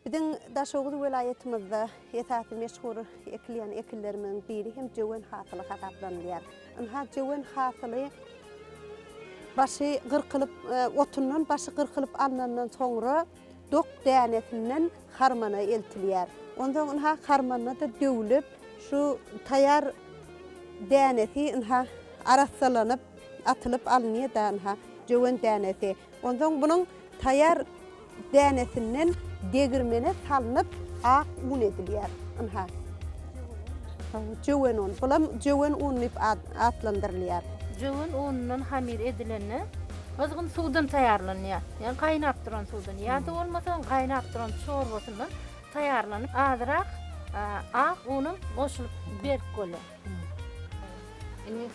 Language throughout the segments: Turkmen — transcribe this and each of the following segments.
Biziň Daşoguz welaýatymyzda esasy meşhur ekilýän ekinlerimiziň biri hem jöwen hasyly hasaplanylýar. Ynha, jöwen hasyly başy gyrkylyp, otundan başy gyrkylyp alnandan soňra dok dänesinden harmana eltilýär. Onsoň ynha harmanda-da döwlüp, şu taýýar dänesi ynha arassalanyp, atylyp alynýar-da ynha jöwen dänesi. Onsoň bunuň taýýar dänesinden degirmene salnyp, ak un edilýär. Ynha, jöwen un. Bulam jöwen un diýip atlandyrylýar. Jöwen unundan hamyr edilende, gyzgyn suwdan taýýarlanýar. Ýagny gaýnap duran suwdan ýa-da bolmasa gaýnap duran çorbasyndan taýýarlanyp, azyrak ak unuň goşulyp berk bolýar. Indi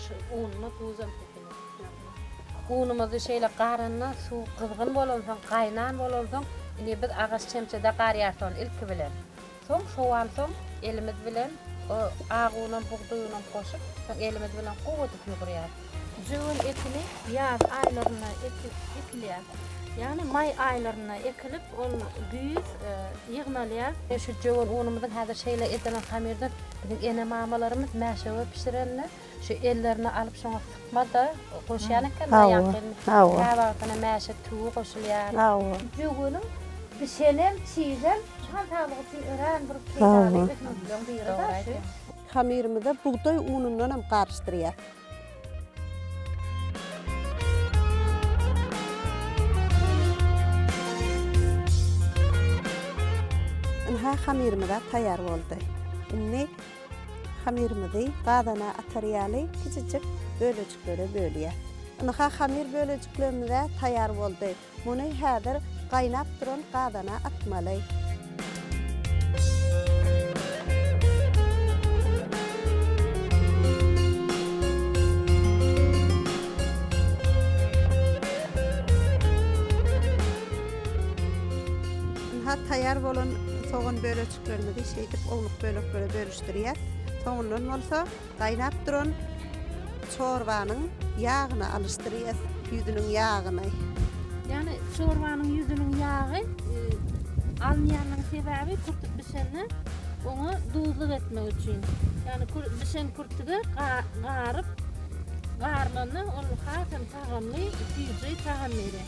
şu unyna duzam sepeliň. Unumyzy şeýle garandan suw gyzgyn bolansoň, gaýnan bolansoň, indi biz agaç çemçede garýarys ony ilki bilen. Soň sowansoň elimiz bilen o ak unam, bugdaý unam goşup, soň elimiz bilen gowy edip ýugurýarys. Jöwen ekini ýaz aýlarynda ekilýär. Ýagny maý aýlarynda ekilip, ol güýz ýygnalýar. Şu jöwen unumyzyň häzir şeýle edilen hamyrdan biziň ene-mamalarymyz mäşewe bişirende, şu ellerine alyp şoňa sypma-da goşýan ekenler ýaňky. Hawa. Kä wagtyna mäşe tugy goşulýar. Hawa. Jöweniň bişenem, çiýsem jan saglygy üçin örän bir peýdaly ösümlikleň biri-de şu. Hamyrymyza bugdaý unundanam garyşdyrýar. Ynha hamyrymyzam taýýar boldy. Indi hamyrymyzy gazana atar ýaly kiçijik bölejiklere bölýäs. Ynha hamyr bölejiklerimiz-ä taýýar boldy. Muny häzir gaýnap duran gazana atmaly. Ynha, taýýar bolan sogan bölejiklerimizi şeýdip ownuk böleklere bölüşdirýäs. Soňundan bolsa, Gaýnap duran çorbanyň ýagyny alyşdyrýas, ýüzüniň ýagyny. Ýagny çorbanyň ýüzüniň ýagy alynýanyň sebäbi kürtük bişende oňa duzluk etmek üçin. Ýagny bişen kürtüge garyp garylanda ol hasam tagamly, süýji tagam berýär.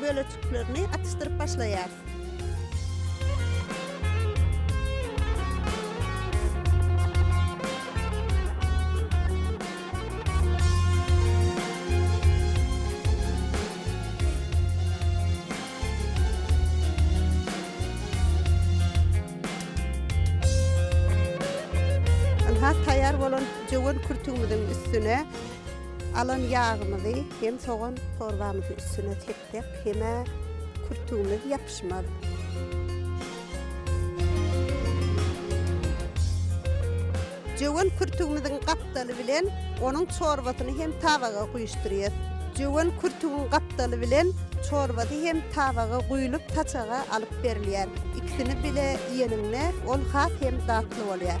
bölejiklerini atyşdyryp başlaýarys. Ynha, taýýar bolan jöwen kürtügimiziň üstüne Alan ýagymyzy hem sogan çorbamyzyň üstüne sepsek hem-ä kürtügimiz ýapyşmaz. Jöwen kürtügimiziň gapdaly bilen onuň çorbasyny hem tabaga guýuşdyrýas. Jöwen kürtügiň gapdaly bilen çorbasy hem tabaga guýlup saçaga alyp alyp berilýär. Ikisini bile iýeniňde ol has hem datly bolýar.